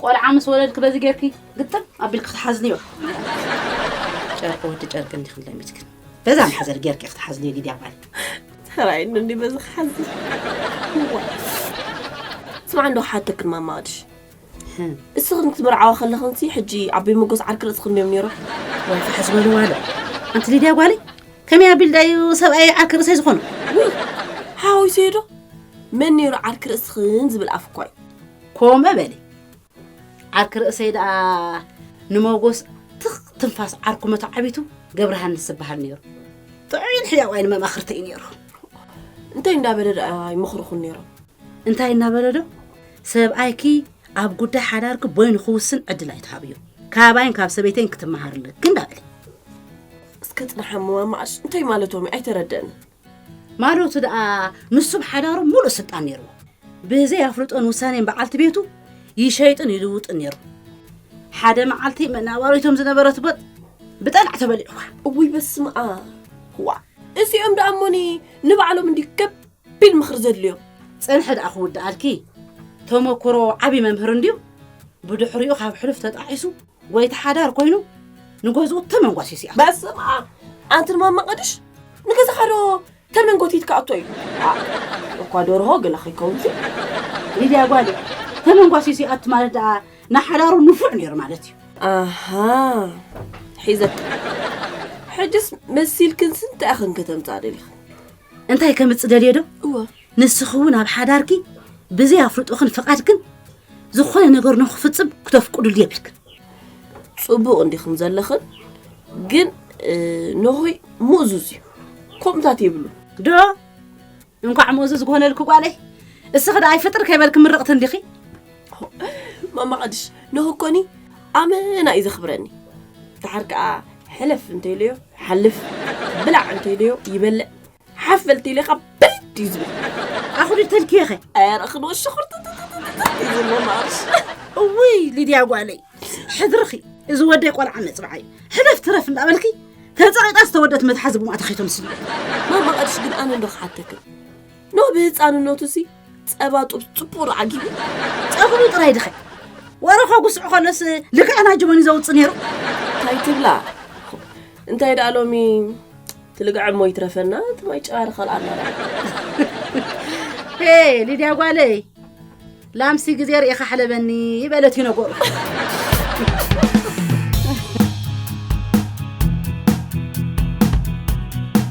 ቆልዓ ምስ ወለድኪ በዚ ጌርኪ ግጥም ኣቢልኪ ክትሓዝልዮ። ጨርቂ ወዲ ጨርቂ እንዲ ክንለሚትክን በዛ ማሕዘል ጌርኪ ክትሓዝልዮ ግዲ ኣባል ተራይ እንዲ በዚ ክሓዝል ስማዕ እንዶ ሓተክን ማማድሽ እስኽን ክትበርዓዋ ከለኽንሲ ሕጂ ዓበይ መጎስ ዓርኪ ርእስኽን ድዮም ነይሮም ወይ ፍሕስ በልዋ ኣሎ ኣንቲ ሊድያ ጓለይ ከመይ ኣቢል ዳዩ ሰብኣይ ዓርኪ ርእሰይ ዝኾኑ ሓወይ ሰይዶ መን ነይሩ ዓርኪ ርእስኽን ዝብል ኣፍ እኳ እዩ ኮመ በሊ ዓርኪ ርእሰይ ደኣ ንመጎስ ትኽ ትንፋስ ዓርኩ መተዓቢቱ ገብረሃንስ ዝበሃል ነይሩ ጥዑይን ሕያዋይ ንመማኽርቲ እዩ ነይሩ እንታይ እንዳበለ ደኣ ይመኽርኹን ነይሮም እንታይ እናበለ ዶ ሰብኣይኪ ኣብ ጉዳይ ሓዳርኪ ቦይኑ ክውስን ዕድል ኣይትሃብዩ ካባይን ካብ ሰበይተይን ክትመሃር ኣለኪ እንዳበለ እስከ ፅናሓ መማማኣሽ እንታይ ማለቶም እዩ ኣይተረደአንን ማዶቱ ደኣ ምስ ሱብ ሓዳሩ ሙሉእ ስልጣን ነይርዎ። ብዘይ ኣፍልጦን ውሳኔን በዓልቲ ቤቱ ይሸይጥን ይልውጥን ነይሩ። ሓደ መዓልቲ መናባሪቶም ዝነበረት ቦጥ ብጠላዕ ተበሊዕዋ። እውይ በስምኣ ዋእ እዚኦም ደኣ እሞኒ ንባዕሎም እንዲዩ ከቢድ ምኽሪ ዘድልዮም። ጸንሐ ደኣ ክውድኣልኪ ተመኩሮ ዓቢ መምህር እንዲዩ ብድሕሪኡ ካብ ሕሉፍ ተጣዒሱ ጎይታ ሓዳር ኮይኑ ንገዝኡ ተመንጓሲ ሲኣ በስመ ኣብ ኣንቲ ድማ መቐድሽ ንገዛኻ ዶ ተመንጎቲ ትከኣቶ እዩ እኳ ደርሆ ገለ ከይከውን ሲ ሊድያ ጓል ተመንጓሲ ሲኣት ማለት ደኣ ንሓዳሩ ንፉዕ ነይሩ ማለት እዩ ኣሃ ሒዘት ሕጅስ መሲልክን ስንት ኣኽን ከተምፃ ደሊኽን እንታይ ከምፅ ደልየ ዶ እወ ንስኺ እውን ኣብ ሓዳርኪ ብዘይ ኣፍልጦኽን ፍቓድክን ዝኾነ ነገር ንክፍፅም ክተፍቅዱሉ የብልክን። ፅቡቕ እንዲኹም ዘለኽን ግን ንሆይ ምእዙዝ እዩ ከምታት የብሉ ዶ እንኳዕ ምእዙዝ ክኾነልክ ጓለይ እስኺ ደኣ ይፍጥር ከይበልክ ምርቕቲ እንዲኺ ማማ ቅድሽ ንሆ እኮኒ ኣመና እዩ ዘኽብረኒ ድሓር ከዓ ሕለፍ እንተይለዮ ሓልፍ ብላዕ እንተይለዮ ይበልዕ ሓፈልቲ ኢለኻ በድ እዩ ዝብል ኣኹሪ ተልክየኸ ኣረ ክንወ ሽኹርቲ ይብሎ ማርሽ እውይ ሊድያ ጓለይ ሕድርኺ እዚ ወደይ ቆልዓ መፅብዓ እዩ ሕለፍ ትረፍ እንዳበልኪ ተፀቂጣ ዝተወደት መትሓዚ ብማእታ ከይተምስሉ ማማ ቀድሽ ግን ኣነ እንዶ ክሓተክን ኖ ብህፃንነቱ ሲ ጸባ ጡብ ጽቡቕ ዶ ዓጊቡ? ጨኽኑ ጥራይ ድኸ ወረኾ ጉስዑ ከሎስ ልክዕን ኣጅቦን እዩ ዘውጽእ ነይሩ። እንታይ ትብላ እንታይ ደኣ ሎሚ ትልግዐ እሞ ይትረፈና እቲ ማይ ጨባሪ ካልኣና ሄ ሊድያ ጓለይ ላምሲ ግዜ ርኢኻ ሕለበኒ ይበለት እዩ ነገሩ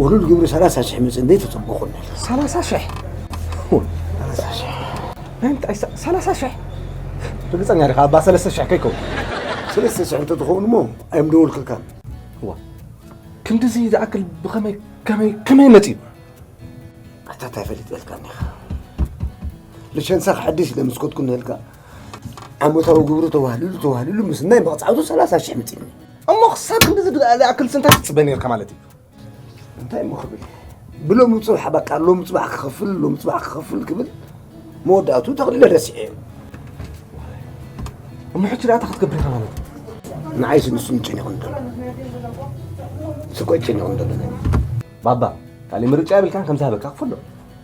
ውሉድ ግብሪ ሰላሳ ሽሕ መፅን ተፅቡቑኒ ሰላሳ ሽሕ ሰላሳ ሽሕ ናይ እንታይ ሰ- ሰላሳ ሽሕ ርግፀኛ ዲኻ ኣባ ሰለስተ ሽሕ ከይከውን ሰለስተ ሽሕ እንተትኸውን እሞ ኣይምደወልክልካን እዋ ክንድዚ ዝኣክል ብኸመይ ከመይ ከመይ መፅዩ ኣታ እንታይ ፈሊጠልካኒ ኢኻ ልሸንሳ ክሐድስ ኢለ ምስ ኮትኩ ነልካ ዓመታዊ ግብሩ ተዋህልሉ ተዋህልሉ ምስናይ መቕፃዕቱ ሰላሳ ሽሕ መፂእኒ እሞ ክሳብ ክንዲዚ ዝኣክል ስንታይ ትፅበ ነርካ ማለት እዩ እንታይ እሞ ክብል ብሎሚ ፅባሕ በቃ ሎሚ ፅባሕ ክኸፍል ሎሚ ፅባሕ ክኸፍል ክብል መወዳእቱ ተቕሊለ ረሲዐ እዩ እሞ ሕጂ ደኣ ክትገብር ኢኻ ማለት እዩ ንዓይ ስንሱ ንጨኒቑ ንደሎ ስኮ ጨኒቑ ንደሎ ባባ ካልእ ምርጫ የብልካን ከምዝሃበካ ክፈሎ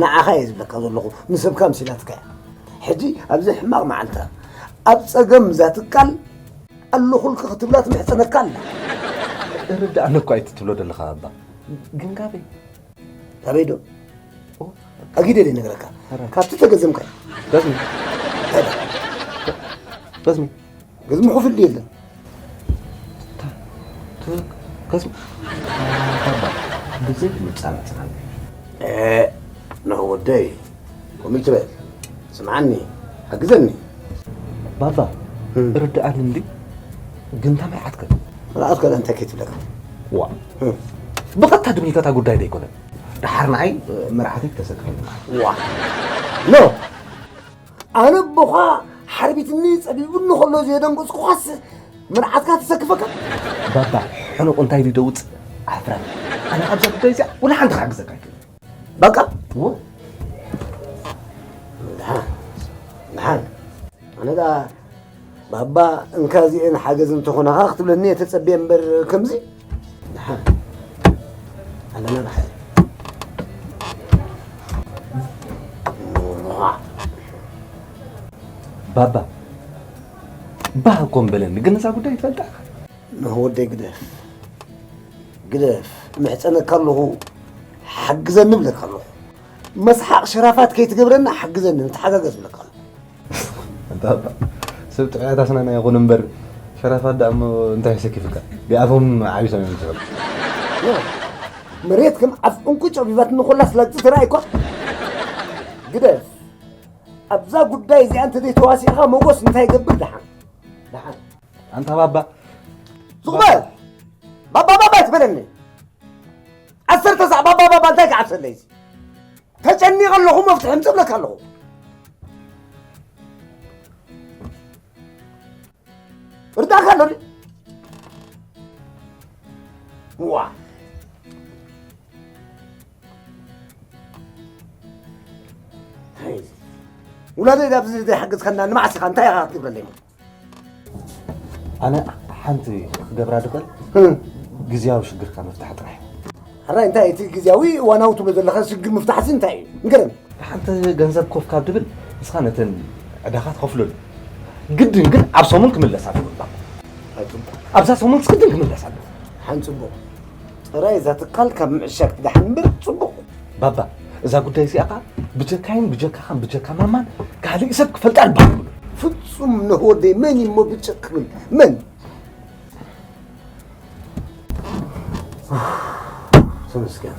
ንዓኻ እየ ዝብለካ ዘለኹ ንሰብካ ምሲላትካ እያ ሕጂ ኣብዚ ሕማቕ መዓልታ ኣብ ጸገም እዛ ትካል ኣለኹልኪ ክትብላ ትምሕጸነካ ኣላ እርድኣኒ እኳ እቲ ትብሎ ዘለኻ ኣባ ግን ካበይ ካበይ ዶ ኣጊደ ደይ ነገረካ ካብቲ ተገዘምካ እዩ በዝሚ በዝሚ ገዝሚ ሑፍድ የለን ብዘይ ምፃናፅና ንዑ ወደይ ከምኡ ትበል ስምዓኒ ሓግዘኒ ባባ ርድኣኒ እንዲ ግን ከመይ ዓትከ ርኣት ከለ እንታይ ከይትብለካ ዋ ብቐጥታ ድብልከታ ጉዳይ ዘይኮነ ደሓር ንዓይ መርዓተይ ተሰክፈኒ ዋ ኖ ኣነ ቦኻ ሓርቢትኒ ጸቢቡኒ ከሎ ዘየደንገጽኩኻስ መርዓትካ ትሰክፈካ ባባ ሕኑቕ እንታይ ኢሉ ደውጽእ ዓፍራ ኣነ ካብዛ ጉዳይ እዚኣ ወላ ሓንቲ ክሓግዘካ ኣይክእል በቃ ድሓን ድሓን ኣነ ባባ እንካ እዚኤን ሓገዝ እንተኾናኻ ክትብለኒ እየ ተጸብየ እምበር ከምዚ ኣለና ብሓ ባባ ባህ እኮ በለኒ ግን እዛ ጉዳይ ይፈልጣ ንወደይ ግደፍ ግደፍ ምሕፀነካ ኣለኹ ሓግዘኒ ብለካ ኣለኹ መስሓቕ ሸራፋት ከይትገብረና ሓግዘኒ ንተሓጋገዝ ብለካ ኣለኹ ኣንታ እባ ሰብ ጥዑያት ኣስናና ይኹኑ እምበር ሸራፋት ደኣ እሞ እንታይ ኣሰኪፍካ ቢኣፎም ዓቢሶም እዮም ዝፈልጡ መሬት ከም ዓፍ እንኩ ጨቢባት ንኹላ ስላግጺ ትርኣይኳ ግደፍ ኣብዛ ጉዳይ እዚኣ እንተ ዘይተዋሲእኻ መጎስ እንታይ ይገብር ደሓን ደሓን ኣንታ ባባ ዝቕበል ባባ ባባ ትበለኒ ዓሰርተ ሳዕ ባባ ባባ እንታይ ክዓብሰለይ እዚ ተጨኒቐ ኣለኹ መፍትሒ ምፅ እብለካ ኣለኹ እርዳካ ኣሎ ድ- ዋ ውላደይ ኣብዚ ዘይሓገዝካና ንመዓስ ኢኻ እንታይ ኢኻ ክትገብረለይ ማለት ኣነ ሓንቲ ክገብራ ድኽእል ግዝያዊ ሽግርካ ምፍታሕ ጥራሕ ሕራይ እንታይ እቲ ግዝያዊ እዋናዊ ትብሎ ዘለካ ሽግር ምፍታሕሲ እንታይ እዩ ንገረኒ ሓንቲ ገንዘብ ኮፍ ካብ ድብል ንስኻ ነተን ዕዳኻ ትኸፍለሉ ግድን ግን ኣብ ሰሙን ክምለስ ኣለዎ ኣብዛ ሰሙን ስግድን ክምለስ ኣለዎ ሓን ፅቡቕ ጥራይ እዛ ትካል ካብ ምዕሻግ ትድሓን እምበር ፅቡቕ ባባ እዛ ጉዳይ እዚኣ ከዓ ብጀካይን ብጀካኻን ብጀካ ማማን ካልእ ሰብ ክፈልጣ ኣልባዕሉ ፍጹም ነሆደ መን እሞ ብጭቕ ክብል መን ተመስገን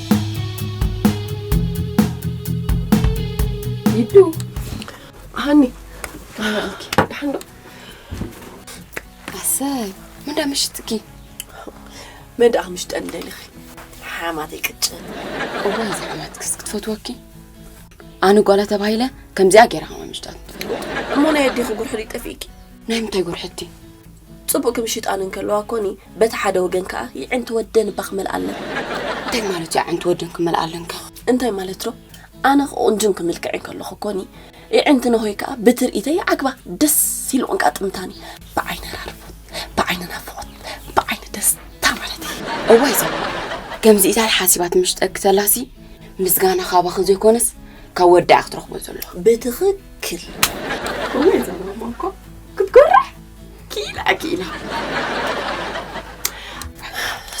ይዱ ሃኒ ዳሓንዶ ኣሰይ ምንዳ ምሽትኪ መድኣ ምሽጠን ደሊኺ ሓማት ይቅጭል እዋ እዚ ሓማት ክስ ክትፈትወኪ ኣነ ጓላ ተባሂለ ከምዚኣ ገይራ ከማ ምሽጣት እሞ ናይ ኣዴኺ ጉርሕሊ ጠፊእኪ ናይ ምንታይ ጉርሕቲ ጽቡቅ ክምሽጣን እንከለዋ ኮኒ በቲ ሓደ ወገን ከኣ ይዕንቲ ወደን እባ ክመልኣለን። እንታይ ማለት እዩ ኣዕንቲ ወደን ክመልኣለን ከ? እንታይ ማለት ዶ ኣነ ክቁንጅን ክምልክዕን ከለኩ ኮኒ ይዕንቲ ነሆይ ከኣ ብትርኢተይ ይዓግባ ደስ ኢሉ ቅንቃጥምታኒ ብዓይኒ ኣራርቦት ብዓይኒ ናፍቆት ብዓይኒ ደስታ ማለት እዩ። እዋይ ዘላ ከምዚ ኢታል ሓሲባ ትምሽጠኪ ተላሲ ምስጋና ካባኺ ዘይኮነስ ካብ ወዳኣ ክትረኽቦ ዘሎ ብትኽክል እዋይ ዘላ እኮ ክትጎርሕ ክኢላ ክኢላ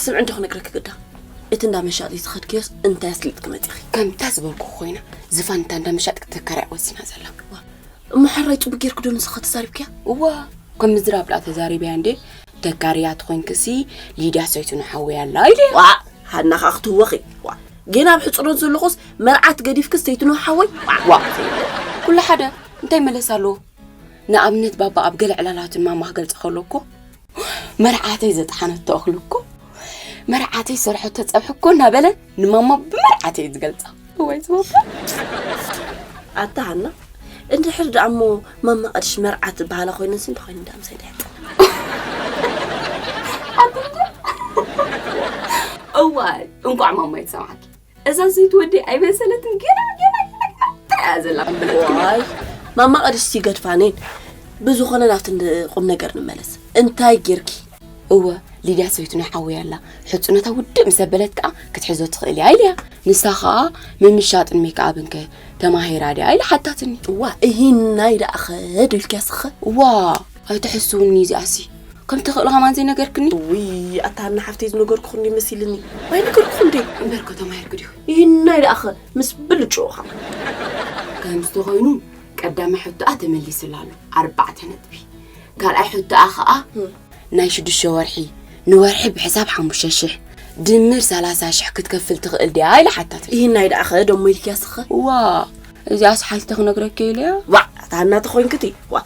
ስምዕ እንዶ ክነግረኪ ግዳ እቲ እንዳ መሻጢ ዝኸድክዮስ እንታይ ኣስሊጥኪ መፂኺ ከምታ ዝበልኩ ኮይና ዝፋን እታ እንዳ መሻጢ ክትከራይ ወሲና ዘላ እሞ ሕራይ ፅቡቅ ጌርክዶ ንስኻ ተዛሪብክያ እዋ ከም ምዝራብ ድኣ ተዛሪብያ እንዴ ተጋርያ ትኾይንክሲ ሊድያ ሰይቱ ንሓወያ ኣላ ኢለ ዋ ሃናኻ ክትህወኺ ዋ ግን ኣብ ሕፅሮት ዘለኹስ መርዓት ገዲፍክስ ሰይትኖ ሓወይ ዋ ኩሉ ሓደ እንታይ መለስ ኣለዎ ንኣብነት ባባ ኣብ ገለ ዕላላቱን ማማ ክገልጸ ከሎ እኮ መርዓተይ ዘጥሓነቶ እኽሊ እኮ መርዓተይ ዝሰርሐቶ ጸብሒ እኮ እናበለ ንማማ ብመርዓተይ እዩ ዝገልጻ ወይ ዝባባ ኣታ ሃና እንድሕር ደኣ እሞ ማማ ቅድሽ መርዓት ዝበሃላ ኮይነንስ እንተኮይኑ እንዳ ምሳይ ድሕጥ እዋይ እንቋዕ ማማ ይትሰማዓኪ እዛ ዘይትወዲ ኣይመሰለትን ገና ገና ገና ገና እንታይ እያ ዘላ ዋይ ማማ ቅድስቲ ገድፋኔን ብዝኾነ ናብቲ ን- ቁም ነገር ንመለስ እንታይ ጌርኪ እወ ሊድያ ሰበይቱ ናይ ሓወይ ኣላ ሕፁነታ ውድእ ምስ ኣበለት ከዓ ክትሕዞ ትኽእል እያ ኢልያ ንሳ ከዓ ምምሻጥን ሜክኣብን ከ ተማሂራ ድያ ኢላ ሓታትኒ እዋ እሂናይ ደኣ ኸድ ኢልኪያ ስኸ እዋ ኣይትሕስውኒ እዚኣሲ ከም ተኽእሎ ከማን ዘይነገርክኒ ውይ ኣታ ሃና ሓፍተይ ዝነገርኩኹም ዶ መሲልኒ ኣይነገርኩኹም ዶ እምበር ከተማ የርግድ እዩ ይህናይ ደኣኸ ምስ ብልጭኡኻ ከም ዝተኾይኑ ቀዳማይ ሕቶኣ ተመሊስላ ኣሎ ኣርባዕተ ነጥቢ ካልኣይ ሕቶኣ ከዓ ናይ ሽዱሽተ ወርሒ ንወርሒ ብሕሳብ ሓሙሽተ ሽሕ ድምር ሰላሳ ሽሕ ክትከፍል ትኽእል ድያ ኢለ ሓታት ይህናይ ደኣኸ ደሞ ኢልክያስኸ ዋ እዚኣስ ሓቲተ ክነግረኪ ኢለያ ዋዕ ታናተ ኮይንክቲ ዋ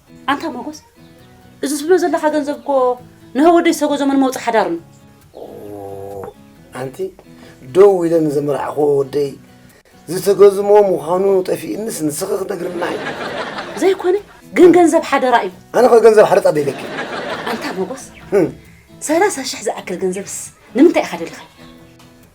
ኣንታ መጎስ እዚ ትብሎ ዘለካ ገንዘብ እኮ ንህወደይ ሰጎዞምን መውፅ ሓዳሩን ኣንቲ ደው ኢለ ንዘመርዓኽዎ ወደይ ዝተገዝሞ ምዃኑ ጠፊእንስ ንስኺ ክትነግርልና እዩ ዘይኮነ ግን ገንዘብ ሓደራ እዩ ኣነ ከ ገንዘብ ሓደጣ ደይለኪ ኣንታ መጎስ ሰላሳ ሽሕ ዝኣክል ገንዘብስ ንምንታይ ኢኻ ደልኻ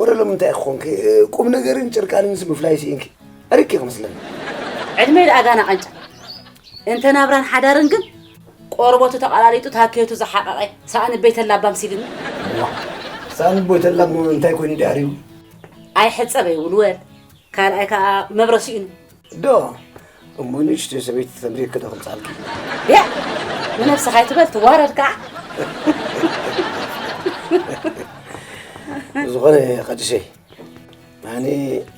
ወረ ሎሚ እንታይ ክኾንኪ ቁም ነገርን ጭርቃንን ስምፍላይ ስኢንኪ ዕርቂ ክመስለኒ ዕድመይ ደኣ ጋና ቐንጫ እንተ ናብራን ሓዳርን ግን ቆርበቱ ተቐላሊጡ ታኬቱ ዝሓቐቐ ሳእኒ ቤተላ ባምሲልኒ ሳእኒ ቤተላ እንታይ ኮይኑ ዳሪቡ ኣይሕፀበይ ውልወል ካልኣይ ከዓ መብረ ስኢኑ ዶ እሞ ንእሽተይ ሰበይቲ ተምሪ ክዶ ክምጻልኪ ያ ንነብስኻ ኣይትበል ትዋረድ ከዓ ዝኾነ ቐድሸይ ኣነ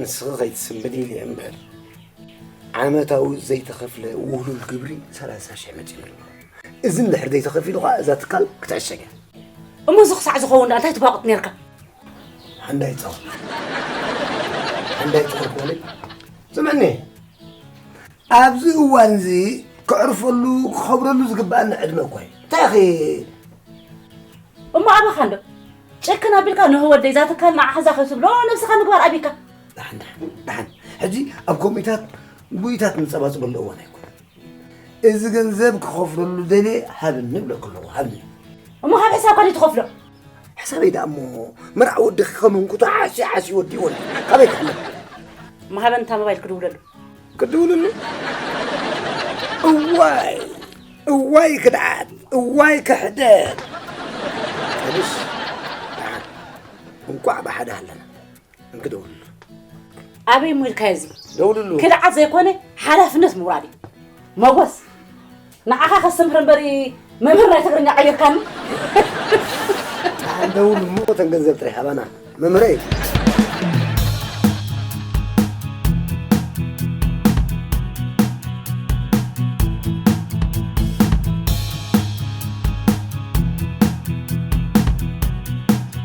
ንስኺ ከይትስምብድ ኢለ እምበር ዓመታዊ ዘይተኸፍለ ውህሉል ግብሪ ሰላሳ ሽሕ መፂኡ ኣሎ እዚ እንድሕር ዘይተኸፊሉ ከዓ እዛ ትካል ክትዕሸግ እያ እሞ እዚ ክሳዕ ዝኸውን ዳኣ እንታይ ትቧቕጥ ነርካ ሓንዳይ ጸወት ሓንዳይ ጸወት ማለት ስምዕኒ ኣብዚ እዋን እዚ ከዕርፈሉ ክኸብረሉ ዝግባኣኒ ዕድመ እኮ እዩ እንታይ እሞ ኣበኻ እንዶ ጨክን ኣቢልካ ንህ ወደይ እዛ ትካል ንዓኸዛ ከይትብሎ ነብስኻ ምግባር ኣቢካ ዳሓን ዳሓን ዳሓን ሕጂ ኣብ ኮሚታት ጉይታት ንፀባፅበሉ እዋን ኣይኮነ እዚ ገንዘብ ክኸፍለሉ ደልየ ሃብኒ እብለኩ ኣለኹ ሃብኒ እሞ ካብ ሕሳብ ካሊእ ትኸፍሎ ሕሳበይ ደኣ እሞ መርዓ ወዲ ክኸውን ኩቶ ዓሲ ዓሲ ወዲ ወዲ ካበይ ክፍለ እሞ ሃበን እታ ሞባይል ክድውለሉ ክድውልሉ እዋይ እዋይ ክድዓት እዋይ ክሕደት እንቋዕ ብሓደ ኣለና እንክደውል ኣበይ እሞ ኢልካዮ እዚ ደውልሉ ክድዓት ዘይኮነ ሓላፍነት ምውራድ እዩ መጎስ ንዓኻ ከስተምህር እምበሪ መምህር ናይ ትግርኛ ቀይርካኒ ደውሉ እሞ ተን ገንዘብ ጥራሕ ኣባና መምህረ እዩ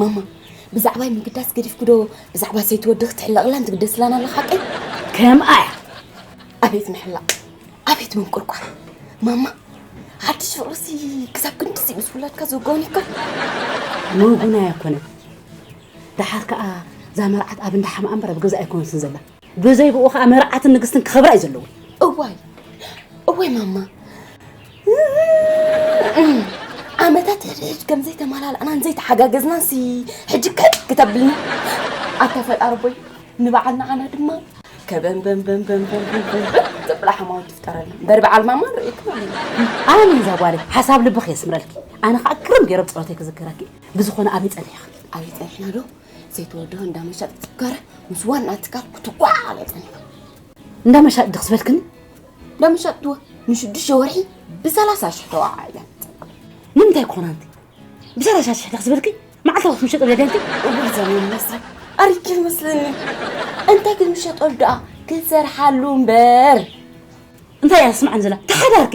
ማማ ብዛዕባይ ምግዳስ ገዲፍኩዶ ብዛዕባ ሰይቲ ወዲ ክትሕለቕላን ትግደስላን ኣላ ሓቀይ ከምኣ እያ ኣቤት ምሕላቕ ኣቤት ምንቁርቋር ማማ ሓድሽ ፍቕርሲ ክሳብ ክንድዚ ምስ ውላድካ ዘጓኒካ ምጉናይ ኣይኮነን ደሓር ከዓ እዛ መርዓት ኣብ እንዳ ሓምኣ እምበር ኣብ ገዛ ኣይኮነትን ዘላ ብዘይ ብኡ ከዓ መርዓትን ንግስትን ክኸብራ እዩ ዘለዎ እዋይ እወይ ማማ ዓመታት ሕድሕድ ከም ዘይተመላልኣናን ዘይተሓጋገዝናን ሲ ሕጂ ከ ክተብልና ኣታ ፈጣሪ ቦይ ንበዓል ንዓና ድማ ከበንበንበንበንበንበን ዘብላ ሓማውት ትፍጠረልና እምበር በዓል ማማ ንርእየኪ ማለት እዩ ኣነ እዛ ጓለይ ሓሳብ ልብኺ የስምረልኪ ኣነ ከዓ ግርም ገይሮም ፀሎተይ ክዝክረኪ ብዝኾነ ኣበይ ፀኒሕኺ ኣበይ ፀኒሕና ዶ ዘይተወደበ እንዳ መሻጥ ክትጋረ ምስ ዋና ትካል ክትጓዓለጠን እዩ እንዳ መሻጥ ድኽ ዝበልክን እንዳ መሻጥ ትወ ንሽዱሽተ ወርሒ ብሰላሳ ሽሕ ተዋዓ እያ ንምንታይ ኮና እንቲ ብሰላሳ ሽሕ ድኽ ዝበልኪ መዓልታዊ ክትምሸጥ ለደልቲ እዋይ ዘመን መስረ ኣርኪ መስለኒ እንታይ ክትምሸጠሉ ደኣ ክትሰርሓሉ እምበር እንታይ እያ ስምዓን ዘላ ተሓዳርኪ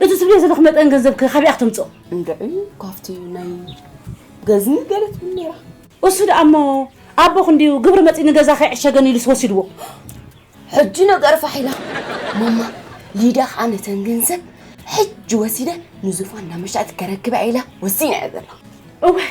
እቲ ትብልዮ ዘለኹ መጠን ገንዘብ ከ ካበይ ኢያ ክተምጽኦ? እንድዒ ካብቲ ናይ ገዝሚ ገለ ትብል ነይራ። እሱ ደኣ እሞ ኣቦኽ እንድዩ ግብሪ መጺኡ ንገዛ ከይዕሸገኒ ኢሉስ ወሲድዎ። ሕጂ ነገር ፋሕ ኢላ ማማ ሊዳ ከኣ ነተን ገንዘብ ሕጂ ወሲደ ንዙፋን ናብ መሸጢ ከረክባ ኢላ ወሲና እያ ዘላ። እዋይ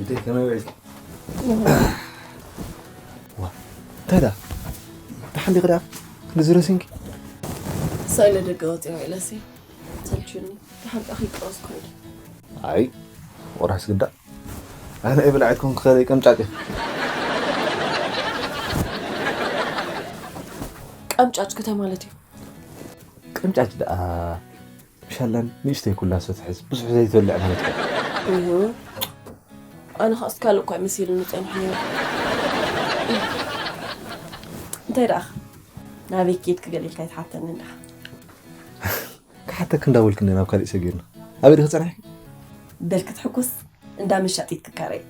እንተይ ከመይ ውዒልኪ? ዋ እንታይ ደኣ ደሓን ዲኺ ደኣ ክንድዚ ረሲንኪ? ሳይ ንደገ ወፂኣ ውዒለሲ ሰልችዩኒ ደሓን ደኣ ከይቀወስ ኮይደ ኣይ ወራስ ግዳ ኣነ እየ ብላዕ ክኸውን ክኸለ ቀምጫጭ እየ ቀምጫጭ ክተ ማለት እዩ ቀምጫጭ ደኣ ሻላን ንእሽተይ ኩላ ሰትሕዝ ብዙሕ ዘይትበልዕ ማለት እኮ እዩ። ኣነ ከስ ካልእ እኳ መሲሉኒ ፀኒሑ ነይሩ። እንታይ ደኣ ናበይ ኬድኪ ገለ ኢልካ ይትሓተኒ እንዳ ክሓተክ እንዳበልክኒ ናብ ካሊእ ሰጊርና ኣበይ ዲኺ ፀኒሕኪ በል ክትሕኩስ እንዳ መሻጢት ክካረይ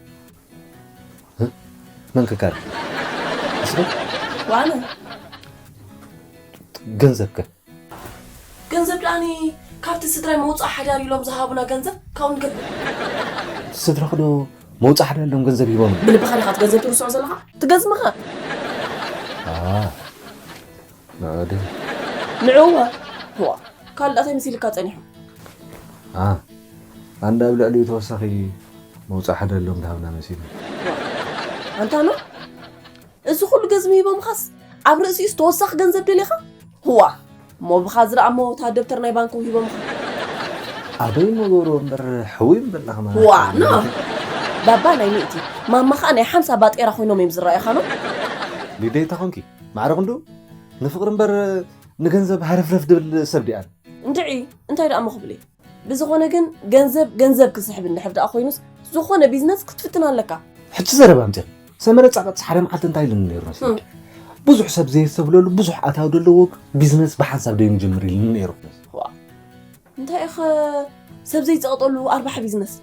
መን ክካረ እስኪ ዋነ ገንዘብ ከ ገንዘብ ድኣኒ ካብቲ ስድራይ መውጽኣ ሓዳር ኢሎም ዝሃቡና ገንዘብ ካብኡ ንገብር። ስድራኽዶ መውጽኣ ሓዳር ኢሎም ገንዘብ ሂቦም? ብልብኻ ዲኻ እቲ ገንዘብ ትርስዖ ዘለኻ? ትገዝምኸ? ንዕኡ ድዩ? ንዕኡኸ? እዋ ካልእ ድኣ እንታይ መሲልካ ጸኒሑ? ኣንዳ ኣብ ልዕሊኡ ተወሳኺ መውጽኣ ሓዳር ኢሎም ድሃቡና መሲሉ። ኣንታ ን። እዚ ኩሉ ገዝሚ ሂቦምኻስ ኣብ ርእሲኡስ ተወሳኺ ገንዘብ ደሊኻ? ህዋ! እሞ ብኻ ዝርኣ እሞ እታ ደብተር ናይ ባንኮም ሂቦምኻ። ኣበይ እሞ ገብርዎ እምበር ሕውይ ምበል ዳኻ ማራ። ህዋ! ን ባባ ናይ ሚእቲ፣ ማማ ኸኣ ናይ ሓምሳ ባጤራ ኮይኖም እዮም ዝረኣዩኻ ን። ሊደታ ኮንኪ ማዕረ ክንድኡ ንፍቕሪ እምበር ንገንዘብ ሃረፍረፍ ድብል ሰብ ዲኣን። እንድዒ እንታይ ድኣሞ ክብል እየ። ብዝኾነ ግን ገንዘብ ገንዘብ ክስሕብ እንድሕር ደኣ ኮይኑስ ዝኾነ ቢዝነስ ክትፍትን ኣለካ። ሕጂ ዘረባ ኣምጺኺ ሰመረ ጻቐጥ ሓደ መዓልቲ እንታይ ኢሉኒ ነይሩ መስለኪ? ብዙሕ ሰብ ዘየስተብለሉ ብዙሕ ኣታዊ ዘለዎ ቢዝነስ ብሓንሳብ ደይ ምጀምር ኢሉኒ ነይሩ። እንታይ ኢኸ ሰብ ዘይጸቕጠሉ ኣርባሕ ቢዝነስ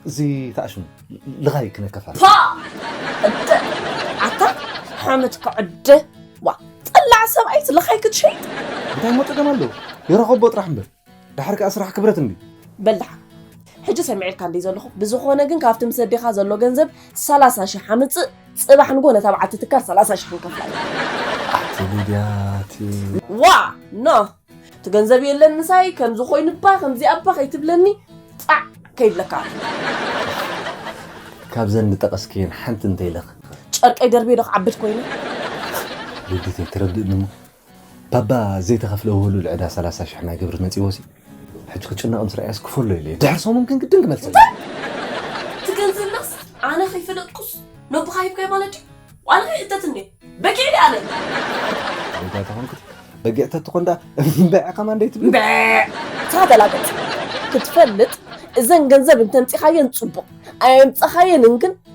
እዚ ከዓ ሽሙ ልኻይ ክነከፋ ኣታ ሓመት ክዕደ ዋ ጸላዕ ሰብኣይስ ልኻይ ክትሸይጥ እንታይ ሞ ጸገም ኣለዎ ይረኸቦ ጥራሕ እምበር ድሓር ከኣ ስራሕ ክብረት እምቢ በል ድሓር ሕጂ ሰሚዐልካ እንዲይ ዘለኹ ብዝኾነ ግን ካብቲ ምስ ኣዴኻ ዘሎ ገንዘብ ሰላሳ ሽሕ ኣምጽእ ጽባሕ ንጎ ነታ በዓልቲ ትካል ሰላሳ ሽሕ ክንከፍላ ኣቲ ሊድያ ኣቲ ዋ ኖ እቲ ገንዘብ የለን ምሳይ ከምዚ ኮይኑባ ከምዚ ኣባ ከይትብለኒ ጻዕ ከይብለካ ካብዘን ዝጠቐስክየን ሓንቲ እንተይለኽ ጨርቀይ ደርቤ ዶ ክዓብድ ኮይኑ ሊዲተይ ትረድእኒ እሞ ባባ ዘይተኸፍለ ውህሉል ዕዳ ሰላሳ ሽሕ ናይ ግብሪ መጺዎሲ ሕጂ ክጭነቕ ምስ ረኣየስ ክፈሎ ኢለዮ ድሕሪ ሰሙን ግን ግድን ክመልሰለይ። እንታይ እቲ ገንዘብናስ ኣነ ከይፈለጥኩስ ነቦኻ ሂብካዮ ማለት ድዩ ዋላ ከይሕተት እንድየ በጊዕ ድየ ኣነ። ኣንታ ተኾንኩስ በጊዕ ተትኾን ድኣ እምበዕ ከማን ደይትብል። እምበዕ እታ ገላገጽ ክትፈልጥ እዘን ገንዘብ እንተምጺኻየን ጽቡቕ ኣየምጻኻየንን ግን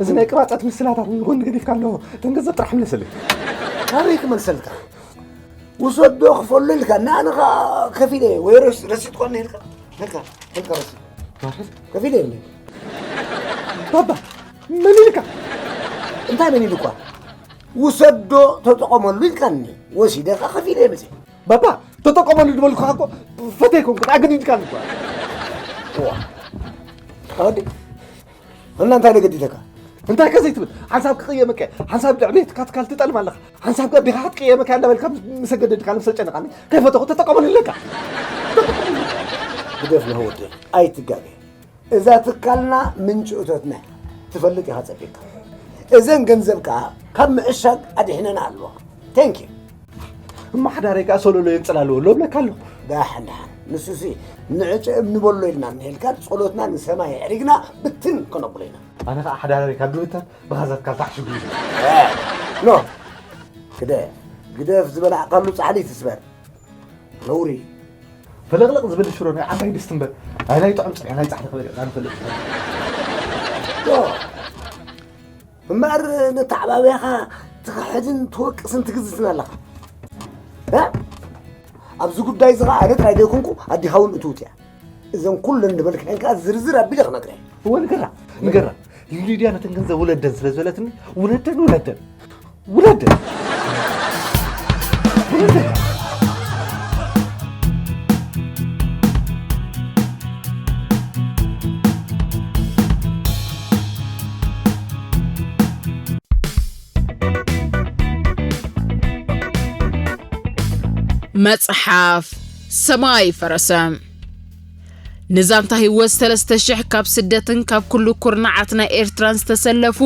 እዚ ናይ ቅባፀት ምስላታት ንጎኒ ገዲፍካ ኣለዎ እተን ገንዘብ ጥራሕ ምለሰለይ ካበይ ክመልሰልካ ውሰዶ ክፈሉ ኢልካ ንኣነ ከዓ ከፊለ እየ ወይ ረስ- ረሲት ኮነ ኢልካ ኢልካ ኢልካ ረሲት ከፊለ እየ ባባ መን ኢልካ እንታይ መን ኢልኳ ውሰዶ ተጠቐመሉ ኢልካኒ ወሲደ ከዓ ከፊለ እየ መፅእ ባባ ተጠቀመሉ ዝበልኩ እኮ ፈተይ ኮንኩ ኣገዲድካ እኳ ተወዲ እና እንታይ ነገዲተካ እንታይ ከዘይ ትብል ሓንሳብ ክቅየመካ ሓንሳብ ልዕቤትካ ትካል ትጠልም ኣለካ ሓንሳብ ገቢኻ ክትቅየመካ እንዳበልካ ምሰገደድካ ነብሰ ጨነቃኒ ከይፈተኹ ተጠቀመሉ ኣለካ ግደፍ ነው ወዲ ኣይትጋገ እዛ ትካልና ምንጭ እቶትና እያ። ትፈልጥ ኢኻ ፀፊካ እዘን ገንዘብ ከዓ ካብ ምዕሻግ ኣድሒነና ኣለዋ ቴንክ ዩ እማ ሓዳረይ ከዓ ሶሎሎ የንፅል ኣለዎ ኣሎ ብለካ ኣለኹ ዳሕን ዳሕን ንሱሲ ንዕጨ እምኒ በሎ ኢልና እንሄልካ ጸሎትና ንሰማይ ኣዕሪግና ብትን ከነብሎ ኢና ኣነ ከዓ ሓዳረይ ካብ ድብታት ብኻዛት ካብ ታሕሽጉ እዩ ኖ ግደ ግደፍ ዝበላዕካሉ ፃዕሊ ትስበር ነውሪ ፍልቕልቕ ዝብል ሽሮ ናይ ዓባይ ድስቲ እምበር ኣይ ናይ ጥዑም ፅርያ ናይ ፃዕሊ ክበልዕ ዛንፈልጥ ዶ እምበኣር ነተዓባብያኻ ትኽሕድን ትወቅስን ትግዝትን ኣለኻ እ? ኣብዚ ጉዳይ እዚ ኸዓ ኣነ ጥራይ ዘይኮንኩ ኣዴኻ እውን እትውት እያ እዘን ኩለን ዝበልክዐን ከዓ ዝርዝር ኣቢለ ክነግረ እየ እወ ንገራ ንገራ ሊድያ ነተን ገንዘብ ውለደን ስለ ዝበለትኒ ውለደን ውለደን ውለደን ውለደን መጽሓፍ ሰማይ ፈረሰ ንዛንታ ህይወት ሰለስተ ሽሕ ካብ ስደትን ካብ ኩሉ ኩርናዓት ናይ ኤርትራን ዝተሰለፉ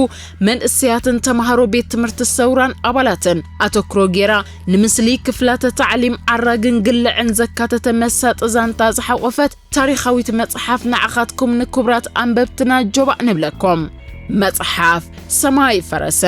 መንእሰያትን ተምሃሮ ቤት ትምህርቲ ሰውራን ኣባላትን ኣተክሮ ጌራ ንምስሊ ክፍላተ ታዕሊም ዓራግን ግልዕን ዘካተተ መሳጢ ዛንታ ዝሓቖፈት ታሪኻዊት መጽሓፍ ንዓኻትኩም ንክቡራት ኣንበብትና ጆባእ ንብለኩም። መጽሓፍ ሰማይ ፈረሰ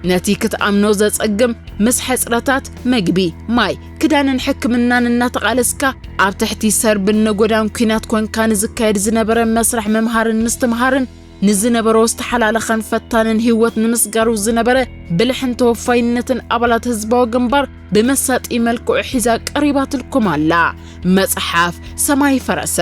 ነቲ ክትኣምኖ ዘጸግም ምስ ሕጽረታት መግቢ፣ ማይ፣ ክዳንን ሕክምናን እናተቓለስካ ኣብ ትሕቲ ሰርብን ነጎዳን ኲናት ኮንካ ንዝካየድ ዝነበረ መስርሕ ምምሃርን ምስትምሃርን ንዝነበሮ ዝተሓላለኸን ፈታንን ህይወት ንምስጋሩ ዝነበረ ብልሕን ተወፋይነትን ኣባላት ህዝባዊ ግንባር ብመሳጢ መልክዑ ሒዛ ቀሪባትልኩም ኣላ መጽሓፍ ሰማይ ፈረሰ።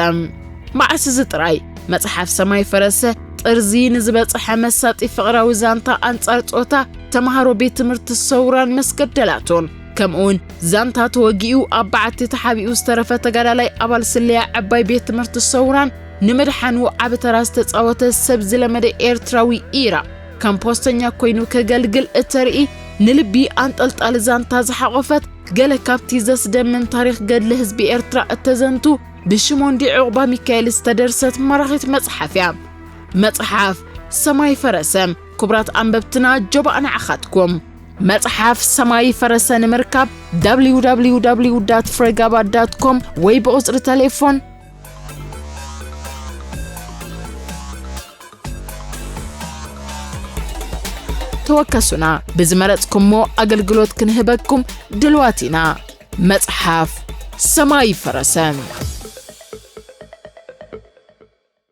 መዓስ እዚ ጥራይ መጽሓፍ ሰማይ ፈረሰ ጥርዚ ንዝበጽሐ መሳጢ ፍቕራዊ ዛንታ ኣንጻር ጾታ ተምሃሮ ቤት ትምህርቲ ሰውራን መስገደላቱን ከምኡውን ዛንታ ተወጊኡ ኣብ በዓቲ ተሓቢኡ ዝተረፈ ተጋዳላይ ኣባል ስለያ ዕባይ ቤት ትምህርቲ ሰውራን ንምድሓኑ ዓቢ ተራ ዝተጻወተ ሰብ ዝለመደ ኤርትራዊ ኢራ ከም ፖስተኛ ኮይኑ ከገልግል እተርኢ ንልቢ ኣንጠልጣሊ ዛንታ ዝሓቖፈት ገለ ካብቲ ዘስደምም ታሪኽ ገድሊ ህዝቢ ኤርትራ እተዘንቱ ብሽሞንዲ ዕቑባ ሚካኤል ዝተደርሰት ማራኺት መጽሓፍ እያ። መጽሓፍ ሰማይ ፈረሰ ክቡራት ኣንበብትና ጆባእ ንዓኻትኩም መጽሓፍ ሰማይ ፈረሰ ንምርካብ www ፍሬጋባ ኮም ወይ ብቑጽሪ ተሌፎን ተወከሱና ብዝመረጽኩሞ ኣገልግሎት ክንህበኩም ድልዋት ኢና መጽሓፍ ሰማይ ፈረሰ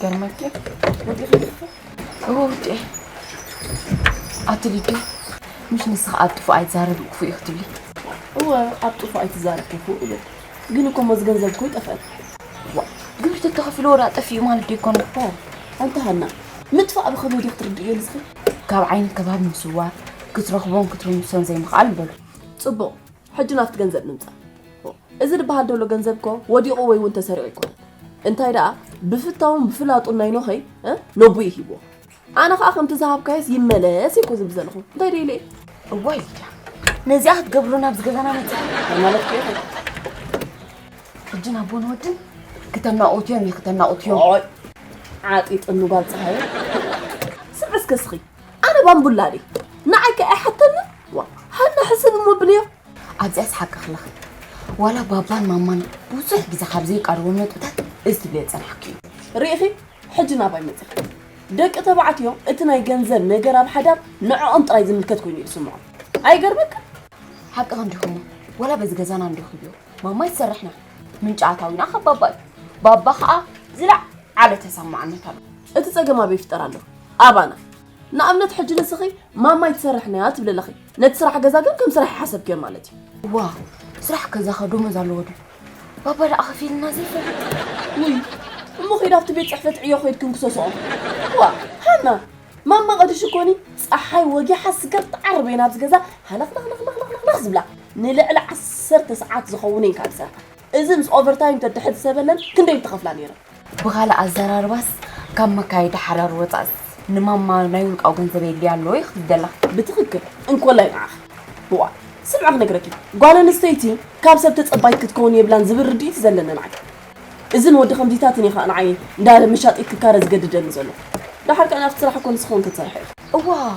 ገርመኪ ውዴ ኣትልዴ ምሽ ንስኻ ኣብ ጥፉእ ኣይትዛረብ ክፉእ እዩ ክትብሊ እወ ኣብ ጥፉእ ኣይትዛረብ ክፉእ እብል ግን እኮ ሞዝ ገንዘብ እኮ ይጠፍአል ግብሪ ተተኸፊሉ ወዳ ጠፊኡ ማለት ዶ ይኮነ ኣንተ ሃና ምጥፋእ ብኸመይ ዲ ክትርድእዮ ንስኺ ካብ ዓይኒ ከባቢ ምስዋር ክትረኽቦን ክትርምሶን ዘይምኽኣል በሉ ፅቡቕ ሕጂ ናብቲ ገንዘብ ንምጻእ እዚ ድበሃል ደሎ ገንዘብ እኮ ወዲቑ ወይ እውን ተሰሪቑ ኣይኮነን እንታይ ደኣ ብፍታውን ብፍላጡን ናይ ኖኸይ ነቡኡ ሂብዎ ኣነ ከዓ ከምቲ ዝሃብካዮስ ይመለስ እኮ ዝብል ዘለኹ እንታይ ደይ ኢለ እዋይ ሊድያ ነዚኣ ክትገብሩ ናብዚ ገዛና መፅእ ማለት ከ ሕጂ ናቦን ወድን ክተናቑትዮም እዩ ክተናቑትዮም ዓጢጥኑ ጓል ፀሃየ ስዕ እስከ ስኺ ኣነ ባምቡላ ድይ ንዓይ ከ ኣይሓተኒ ዋ ሃና ሕስብ እሞ ብልዮ ኣብዚኣ ስሓቂ ክለኺ ዋላ ባባን ማማን ብዙሕ ግዜ ካብ ዘይቃርቦም ነጥብታት እዚ ትብልዮ ዝጸናሕኪ እዩ ርኢኺ ሕጂ ናባይ መጺኺ ደቂ ተባዕትዮ እቲ ናይ ገንዘብ ነገር ኣብ ሓዳር ንዕኦም ጥራይ ዝምልከት ኮይኑ እዩ ዝስምዖም ኣይገርመካ ሓቂ ክንዲኹሞ ወላ በዚ ገዛና እንረኽብዮ ማማይ ትሰርሕና ምንጪ ኣታዊና ካብ ባባ እዩ ባባ ከዓ ዝለዓለ ተሰማዕነት ኣሎ እቲ ጸገም ኣበይ ይፍጠር ኣሎ ኣባና ንኣብነት ሕጂ ንስኺ ማማይ ትሰርሕ ነያ ትብሊ ኣለኺ ነቲ ስራሕ ገዛ ግን ከም ስራሕ ይሓሰብክዮ ማለት እዩ ዋ ስራሕ ገዛ ከ ደሞዝ ኣለዎ ድዩ ባባ ደኣ ከፊልና ዘይፈል ውይ እሞ ከይድ ኣብቲ ቤት ፅሕፈት ዕዮ ኮይድ ክንክሰስኦ ዋ ሃና ማማ ቀድሽ ኮኒ ፀሓይ ወጊሓ ስገር ትዓርብ እየን ኣብዚ ገዛ ሃለኽለኽለኽለኽለኽ ዝብላ ንልዕሊ ዓሰርተ ሰዓት ዝኸውን እየን ካብ ዝሰርሓ እዚ ምስ ኦቨርታይም ተድሕዚ ሰበነን ክንደይ ትኸፍላ ነይረን? ብኻልእ ኣዘራርባስ ካብ መካየዲ ሓዳር ወጻእስ ንማማ ናይ ውልቃዊ ገንዘብ የድልያ ኣሎ ኢኺ ትብሊ ዘለኺ? ብትኽክል እንኮላይ ንዓኺ። እዋእ ስምዒ ክነግረኪ፣ ጓል ኣንስተይቲ ካብ ሰብ ተጸባይት ክትከውን የብላን ዝብል ርድኢት ዘለኒ ንዓይ። እዚ ንወዲ ከምዚታትን ኢኻ ንዓይ እንዳ መሻጢት ክካረ ዝገድደኒ ዘሎ። ደሓር ከኣ ናብቲ ስራሕ እኮ ንስኺ እውን ክትሰርሒ ኢኺ። እዋእ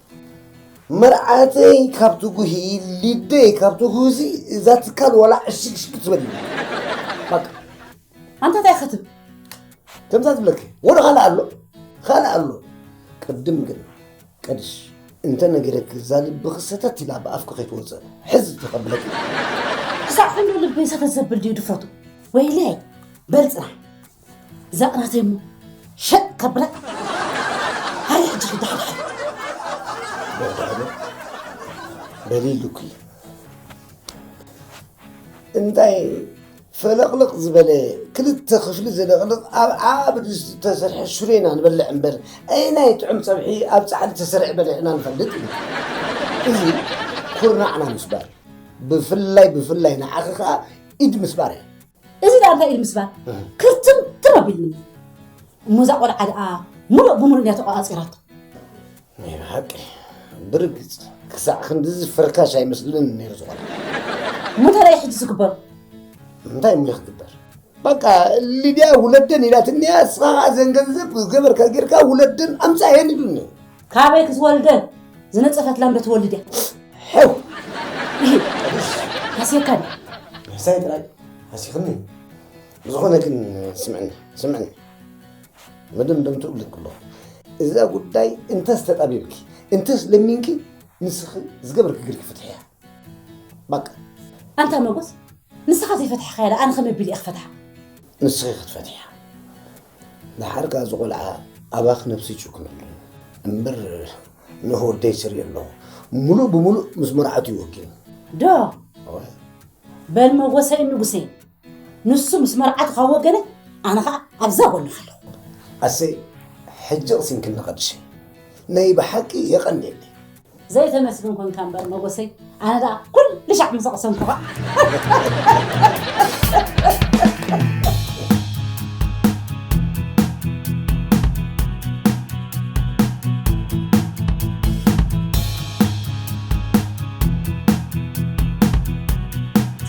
መርዓተይ ካብ ትጉሂ ሊደይ ካብ ትጉሂ እዛ ትካል ዋላ ዕሽግሽግ ትበል ባቃ ኣንታ እንታይ ክትብ ከምዛ ትብለኪ ወደ ካልእ ኣሎ ካልእ ኣሎ ቅድም ግን ቀድሽ እንተ ነገረኪ እዛ ልብኺ ሰተት ኢላ ብኣፍኪ ከይትወፅእ ሕዝ ተቐብለኪ ክሳዕ ክንዶ ልበይ ሰተት ዘብል ድዩ ድፍረቱ ወይለይ በልፅና ዛቕራተይ እሞ ሸጥ ከብላ ሃይ ሕጂ ክዳሕዳሕ በሊሉኪ እንታይ ፈለቕለቕ ዝበለ ክልተ ክፍሊ ዝለቕልቕ ኣብ ዓብ ዝተሰርሐ ሽሮ ኢና ንበልዕ እምበር ኣይናይ ጥዑም ፀብሒ ኣብ ፃዕሊ ተሰርዐ በሊዕና ንፈልጥ ኢና እዚ ኩርናዕና ምስባር ብፍላይ ብፍላይ ንዓኺ ከዓ ኢድ ምስባር እያ እዚ ደኣ እንታይ እዩ ምስባል ክርትምትም ኣቢልኒ እሞ እዛ ቆልዓ ደኣ ሙሉእ ብሙሉእ እያ ተቆፃፂራቶ ናይ ብሓቂ ብርግፅ ክሳዕ ክንድዚ ፍርካሽ ኣይመስልን ነይሩ ዝኾነ እሞ እንታይ እዩ ሕጂ ዝግበሩ እንታይ እሞ ክግበር በቃ ሊድያ ውለደን ኢላትኒ እያ ንስኻ ዘን ገንዘብ ዝገበርካ ጌርካ ውለደን ኣምፃ የንዱኒ ካበይ ክትወልደን ዝነፀፈት ላም ዶ ትወልድ እያ ሕው ይህ ሃስየካ ድያ ሕሳይ ጥራይ ሃሲኽኒ ዝኾነ ግን ስምዕኒ ስምዕኒ መደምደምቱ እብልክ ኣለኹ እዛ ጉዳይ እንተስ ተጣቢብኪ እንተስ ለሚንኪ ንስኺ ዝገበርኪ ግርኪ ፍትሒ እያ በቃ ኣንታ መጎስ ንስኻ ዘይፈትሕኻያ ኣነ ከመይ ኣቢለ እየ ክፈትሓ ንስኺ ክትፈትሕያ ንሓርካ እዚ ቆልዓ ኣባኽ ነብሲ ይጭክነሉ እምበር ንህወደይ ስርኢ ኣለኹ ሙሉእ ብሙሉእ ምስ መርዓቱ ይወግን ዶ በል መጎሰይ ንጉሰይ ንሱ ምስ መርዓቱ ካብ ወገነይ ኣነ ኸኣ ኣብዛ ጎንኻ ኣለኹ። ኣሰይ ሕጂ ቅሲንክኒ ቅድሸይ ነይ ብሓቂ የቀንየለይ። ዘይተመስግን ኮንካ እምበር መጎሰይ ኣነ ደኣ ኩሉ ሻዕ ምስ ኣቅሰንኩኻ።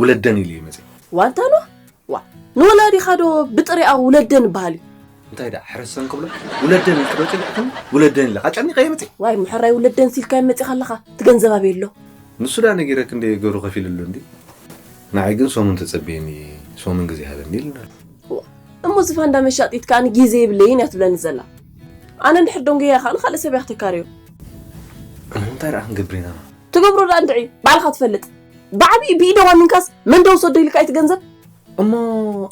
ውለደን ኢሉ እዩ መፅእ ዋልታ ኖህ ዋ ንወላዲኻ ዶ ብጥሪኣ ውለደን ይበሃል እዩ እንታይ ደኣ ሕረሰን ክብሎ ውለደን ኢልክዶ ፅኒዕክን ውለደን ኢለ ኣጨኒቐ እየ መፅእ ዋይ ምሕራይ ውለደን ሲልካዮ መፂኻ ኣለኻ እቲ ገንዘብ ኣበይ ኣሎ ንሱ ደኣ ነጊረኪ እንድየ ገሩ ከፊልሉ እንዲ ንዓይ ግን ሰሙን ተፀበየኒ ሰሙን ግዜ ሃበኒ ኢሉኒ ኣሎ እሞ እዚ ፋንዳ መሻጢት ከዓ ንጊዜ የብለይን እያ ትብለኒ ዘላ ኣነ እንድሕር ደንጎያ ከዓ ንካልእ ሰብ እያ ክተካርዮ እንታይ ደኣ ክንገብር ኢና ትገብሮ ደኣ እንድዒ ባዕልኻ ትፈልጥ ብዓቢኡ ብኢደ ዋኒንካስ መን ዶ ውሰዶ ኢልካ ኢቲ ገንዘብ? እሞ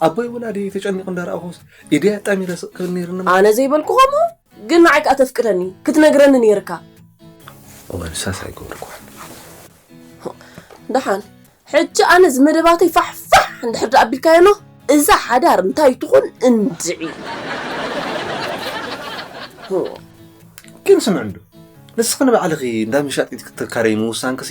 ኣቦይ ወላዲይ ተጨኒቁ እንዳ ረኣኩስ ኢደይ ኣጣሚረ ስቅ ክብል ነይርኒ። ኣነ ዘይበልኩ ከምኡ ግን ንዓይ ከኣ ተፍቅደኒ ክትነግረኒ ነይርካ። እወ ንሳስ ኣይገበርኩዋን። ደሓን ሕጂ ኣነ እዚ መደባተይ ፋሕ ፋሕ እንድሕር ደኣ ኣቢልካዮ ን እዛ ሓዳር እንታይ ትኹን እንድዒ። ግን ስምዕንዶ ንስኺ ንባዕልኺ እንዳ መሻጢት ክትካረይ ምውሳንኪሲ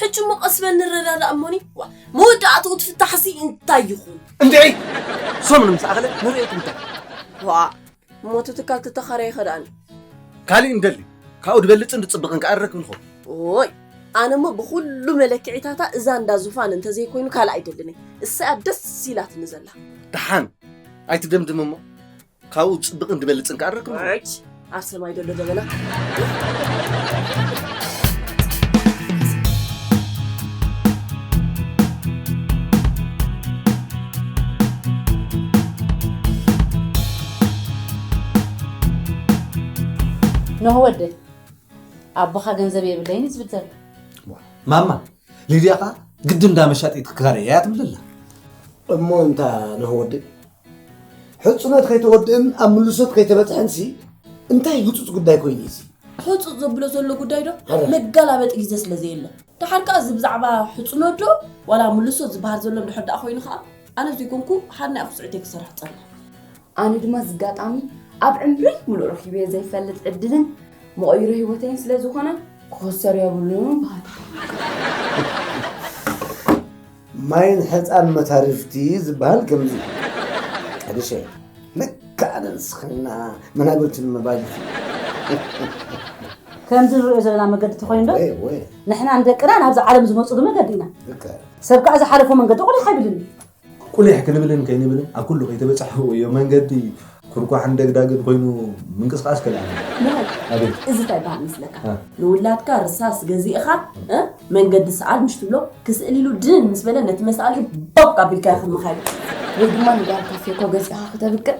ሕጂ እሞ ቀስ በል ንረዳዳእ እሞኒ ዋ መወዳእትኡ እቲ ፍታሕሲ እንታይ ይኹን? እንድዒ ሰሙን ምስ ኣኸለ ንርእዮ እቲ ጉዳይ። ዋእ እሞ እቲ ትካል ተተኻረየኸ ደኣኒ? ካሊእ ንደሊ ካብኡ ድበልጽን ድጽብቕን ከኣ ንረክብ ንኸውን። ኦይ ኣነ እሞ ብኹሉ መለክዒታታ እዛ እንዳ ዙፋን እንተዘይኮይኑ ካልእ ኣይደልን እየ እሰይ እያ ደስ ኢላትኒ ዘላ። ደሓን ኣይትደምድም እሞ ካብኡ ፅብቕን ዝበልፅን ከዓ ረክብ ኣብ ሰማይ ዘሎ ደበና ንሆ ወደይ ኣቦኻ ገንዘብ የብለይን ዝብል ዘሎ ማማ ሊድያ ከዓ ግድን እንዳ መሻጢት ክካረ እያ ትብለላ እሞ እንታ ንሆ ወደይ ሕፁነት ከይተወድእን ኣብ ምልሶት ከይተበፅሐንሲ እንታይ ህፁፅ ጉዳይ ኮይኑ እዩ ሕፁፅ ዘብሎ ዘሎ ጉዳይ ዶ መጋላበጢ ግዜ ስለ ዘየለ ደሓር ከዓ እዚ ብዛዕባ ሕፁነት ዶ ዋላ ምልሶ ዝበሃል ዘሎ እንድሕር ደኣ ኮይኑ ከዓ ኣነ ዘይኮንኩ ሓና እያ ክስዕተይ ክሰርሕ ፀና ኣነ ድማ ዝጋጣሚ ኣብ ዕምረይ ሙሉእ ረኪበዮ ዘይፈልጥ ዕድልን መቐይሮ ህይወተይን ስለ ዝኾነ ክኸሰር የብሉን በሃልቲ ማይን ሕፃን መታርፍቲ ዝበሃል ከምዚ እዩ ሕርሸይ ልክዕ ኣነ ንስኽና መናብርቲ ንምባል ከምዚ ንሪኦ ዘለና መገዲ ተኮይኑ ዶ ወይ ወይ ንሕና ንደቅና ናብዚ ዓለም ዝመፁሉ መገዲ ኢና ልክዕ ሰብ ከዓ ዝሓለፎ መንገዲ ቁሊሕ ኣይብልን እዩ ቁሊሕ ክንብልን ከይንብልን ኣብ ኩሉ ከይተበፃሕኩ እዮ መንገዲ ኩርኳሕን ደግዳግን ኮይኑ ምንቅስቃስ ከልኣና ኣቤት እዚ ታይ በሃል መስለካ ንውላድካ ርሳስ ገዚእኻ እ መንገዲ ሰዓል ምሽ ትብሎ ክስእል ኢሉ ድን ምስ በለ ነቲ መሳልሒ ቦቅ ኣቢልካዮ ክመኻዮ ወይ ድማ ንጋልካ ፌኮ ገዚእኻ ክተብቅዕ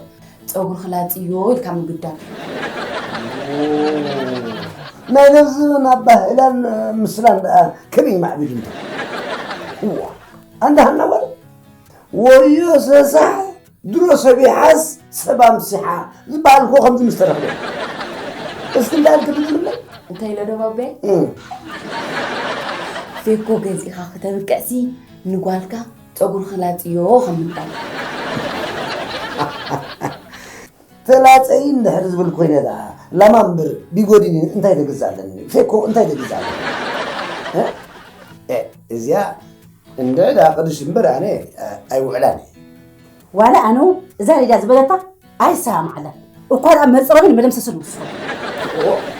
ፀጉሪ ክላፅዮ ኢልካ ምግዳል ናይ ነዚ ናብ ባህላን ምስላን ደኣ ከመይ ማዕቢሉ እንተ እዋ ኣንዳ ሃና ጓል ወዮ ሰሳሕ ድሮ ሰብ ይሓዝ ሰብ ኣምሲሓ ዝበሃል እኮ ከምዚ ምስ ተረኽበ እዩ። እስኪ እንታይ እንትብል ዝብለይ እንታይ ኢለ ዶ ባቤ እም፣ ሴኮ ገዚእኻ ክተብቅዕሲ ንጓልካ ፀጉሪ ክላፅዮ ከም ምባል ተላፀይ እንድሕር ዝብል ኮይነ ደኣ ላማ እምበር ቢጎዲኒ እንታይ ተግዛለኒ ፌኮ እንታይ ተግዛለኒ እ? እ፣ እዚኣ እንድዒ ደኣ ቅዱስ እምበር ኣነ ኣይውዕላን እየ። ዋላ ኣነ እውን እዛ ሊድያ ዝበለታ ኣይሰማማዓላን እኳ ደኣ መፅረብን መደምሰስን ውስኹ።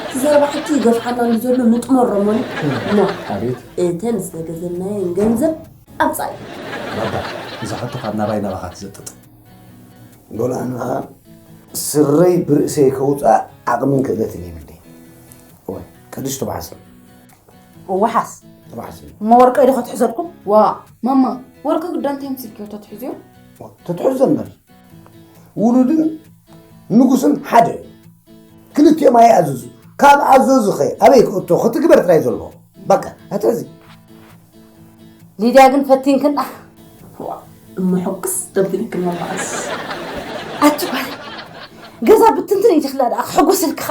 እቲ ዘረባ ሕጂ ይገፍሓና ንዘሎ ንጥመሮ እሞ ን ኣቤት እተን ዝተገዘናየን ገንዘብ ኣምፃእዮ። ባባ እዛ ሕቶ ካብ ናባይ ናባኻ ትዘጥጥ። ሎል ኣንኣ ስረይ ብርእሰይ ከውፅኣ ዓቕምን ክእለትን የብለይን። እወ ቅዱስ ትብዓት ሰብ። ዋሓስ ዋሓስ እሞ ወርቀይ ዶ ከትሕዘልኩም ዋ ማማ ወርቂ ግዳ እንታይ ምስልክዮ ተትሕዝዮ ተትሕዞ እምበር ውሉድን ንጉስን ሓደ ክልቲኦም ኣይኣዘዙ ካብ ኣዘዙ ኸ ኣበይ ክእቶ ክትግበር ጥራይ ዘለዎ በቃ ኣትሕዚ ሊድያ ግን ፈቲንክን እምሕቅስ ደብልክን መማእስ ኣቲ ጓል ገዛ ብትንትን ኢትኽላ ደኣ ክሕጎሰልክኻ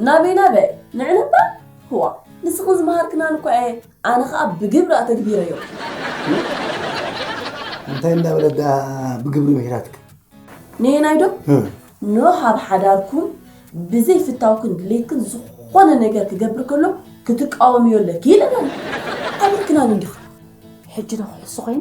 ናበይ ናበይ ንዕን እባ ህዋ ንስኽን ዝመሃርክናን እኳ እየ ኣነ ኸኣ ብግብሪ ኣተግቢረዮ። እንታይ እንዳበለት ድኣ ብግብሪ ምሂራትክ? ነየናይ ዶ ኖህ ኣብ ሓዳርኩም ብዘይ ፍታውክን ድሌትክን ዝኾነ ነገር ክገብር ከሎ ክትቃወምዮ ኣለኪ ኢለናኒ። ኣይብልክናን እንዲኺ። ሕጂ ዶ ክሕሱ ኮይነ?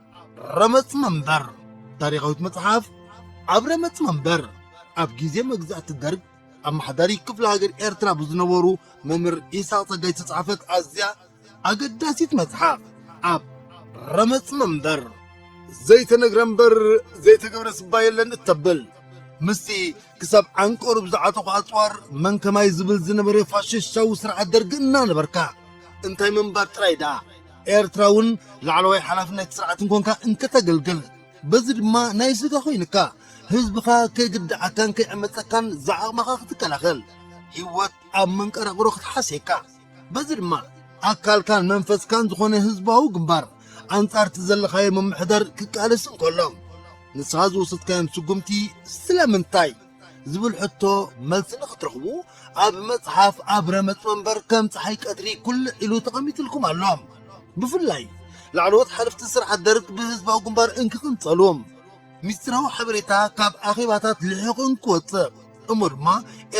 ረመፅ መንበር ታሪኻዊት መፅሓፍ ኣብ ረመፅ መንበር ኣብ ግዜ መግዛእቲ ደርግ ኣመሓዳሪ ክፍለ ሃገር ኤርትራ ብዝነበሩ መምህር ኢሳቅ ጸጋይ ዝተጻሕፈት ኣዝያ ኣገዳሲት መጽሓፍ ኣብ ረመፅ መንበር ዘይተነግረ እምበር ዘይተገብረ ስባ የለን እተብል ምስቲ ክሳብ ዓንቀሩ ብዝዓጠቑ ኣፅዋር መን ከማይ ዝብል ዝነበረ ፋሽስታዊ ስርዓት ደርጊ እናነበርካ እንታይ ምንባር ጥራይ ደኣ ኤርትራ እውን ላዕለዋይ ሓላፍነት ስርዓት እንኮንካ እንከተገልግል በዚ ድማ ናይ ስጋ ኮይንካ ህዝብኻ ከይግድዓካን ከይዕመፀካን ዝዓቕመኻ ክትከላኸል ህይወት ኣብ መንቀራቕሮ ክትሓስየካ በዚ ድማ ኣካልካን መንፈስካን ዝኾነ ህዝባዊ ግንባር ኣንጻርቲ ዘለኻዮ ምምሕዳር ክቃለስ እንከሎ ንስኻ ዝወሰድካዮም ስጉምቲ ስለምንታይ ዝብል ሕቶ መልሲ ንክትረኽቡ ኣብ መጽሓፍ ኣብ ረመጽ መንበር ከም ፀሓይ ቀትሪ ኩልዕ ኢሉ ተቐሚጥልኩም ኣሎ። ብፍላይ ላዕለዎት ሓለፍቲ ስርዓት ደርግ ብህዝባዊ ግንባር እንክቕንጸሉ ሚስጢራዊ ሓበሬታ ካብ ኣኼባታት ልሒቑ እንክወጽእ እሞ ድማ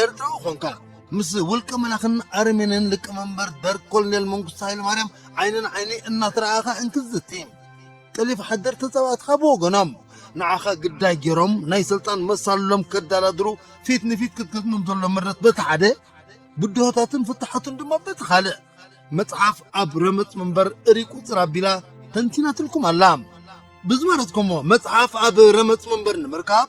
ኤርትራዊ ኾንካ ምስ ውልቀ መላኽን ኣረሜንን ሊቀመንበር ደርግ ኮሎኔል መንግስቱ ሃይለማርያም ዓይኒ ንዓይኒ እናተረኣኻ እንክትዝቲ ጠሊፍ ሓደር ተጻባእትኻ ብወገኖም ንዓኻ ግዳይ ገይሮም ናይ ስልጣን መሳልሎም ከዳላድሩ ፊት ንፊት ክትገጥሞም ዘሎ ምረት በቲ ሓደ ብድሆታትን ፍታሓቱን ድማ በቲ ካልእ መጽሓፍ ኣብ ረመጽ ምንበር እሪ ቁጽር ኣቢላ ተንቲናትልኩም ኣላ። ብዝመረጽኩሞ መጽሓፍ ኣብ ረመጽ መንበር ንምርካብ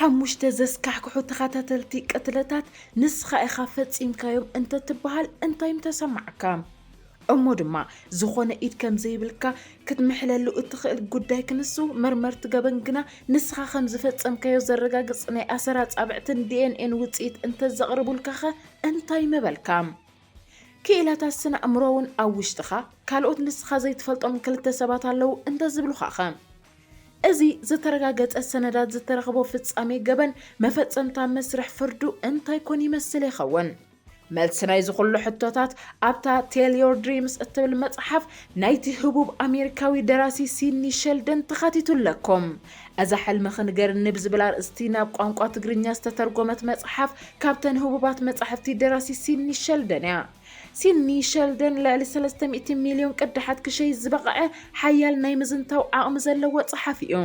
ሓሙሽተ ዘስካሕክሑ ተኸታተልቲ ቅትለታት ንስኻ ኢኻ ፈጺምካዮም እንተትበሃል እንታይ ምተሰማዕካ? እሞ ድማ ዝኾነ ኢድ ከምዘይብልካ ክትምሕለሉ እትኽእል ጉዳይ ክንሱ መርመርቲ ገበን ግና ንስኻ ከምዝፈጸምካዮ ዘረጋግጽ ናይ ኣሰር ኣጻብዕትን ዲኤንኤን ውጽኢት እንተዘቕርቡልካኸ እንታይ ምበልካ? ክኢላታት ስነ ኣእምሮ'ውን ኣብ ውሽጥኻ ካልኦት ንስኻ ዘይትፈልጦም ክልተ ሰባት ኣለዉ እንተዝብሉኻኸ? እዚ ዝተረጋገጸ ሰነዳት ዝተረኽቦ ፍጻሜ ገበን መፈጸምታ መስርሕ ፍርዱ እንታይ ኮን ይመስል ይኸውን? መልሲ ናይዚ ኩሉ ሕቶታት ኣብታ Tell Your Dreams እትብል መጽሓፍ ናይቲ ህቡብ ኣሜሪካዊ ደራሲ ሲድኒ ሸልደን ተኻቲቱ ኣለኩም። እዛ ሕልምኺ ንገርኒ ብዝብል ኣርእስቲ ናብ ቋንቋ ትግርኛ ዝተተርጎመት መጽሓፍ ካብተን ህቡባት መጻሕፍቲ ደራሲ ሲድኒ ሸልደን እያ። ሲድኒ ሸልደን ልዕሊ ሰለስተ ሚእቲ ሚልዮን ቅዳሓት ክሸይጥ ዝበቐዐ ሓያል ናይ ምዝንታው ዓቕሚ ዘለዎ ጸሓፊ እዩ።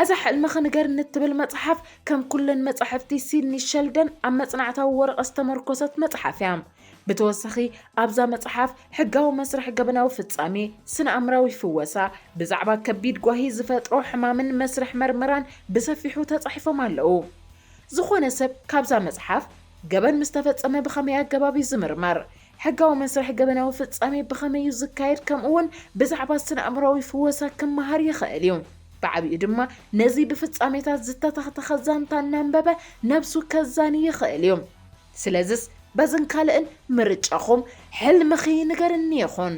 እዛ ሕልምኺ ንገርኒ እትብል መጽሓፍ፣ ከም ኩለን መጻሕፍቲ ሲድኒ ሸልደን ኣብ መጽናዕታዊ ወረቐት ዝተመርኮሰት መጽሓፍ እያ። ብተወሳኺ ኣብዛ መጽሓፍ ሕጋዊ መስርሕ ገበናዊ ፍጻሜ፣ ስነ-ኣእምራዊ ፍወሳ፣ ብዛዕባ ከቢድ ጓሂ ዝፈጥሮ ሕማምን መስርሕ መርመራን ብሰፊሑ ተጻሒፎም ኣለዉ። ዝኾነ ሰብ ካብዛ መጽሓፍ ገበን ምስ ተፈጸመ ብኸመይ ኣገባብ እዩ ዝምርመር? ሕጋዊ መስርሕ ገበናዊ ፍጻሜ ብኸመይ እዩ ዝካየድ ከምኡውን ብዛዕባ ስነ-ኣእምሮኣዊ ፍወሳ ክመሃር ይኽእል እዩ። ብዓቢኡ ድማ ነዚ ብፍጻሜታት ዝተተኽተኸ ዛንታ እናንበበ ነብሱ ከዛኒ ይኽእል እዩ። ስለዝስ በዝን ካልእን ምርጫኹም ሕልምኺ ንገርኒ ይኹን።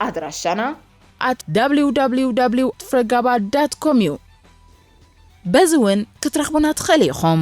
ኣድራሻና። at www ፍረጋባ ዳት ኮም እዩ። በዚ እውን ክትረኽቡና ትኽእሉ ኢኹም።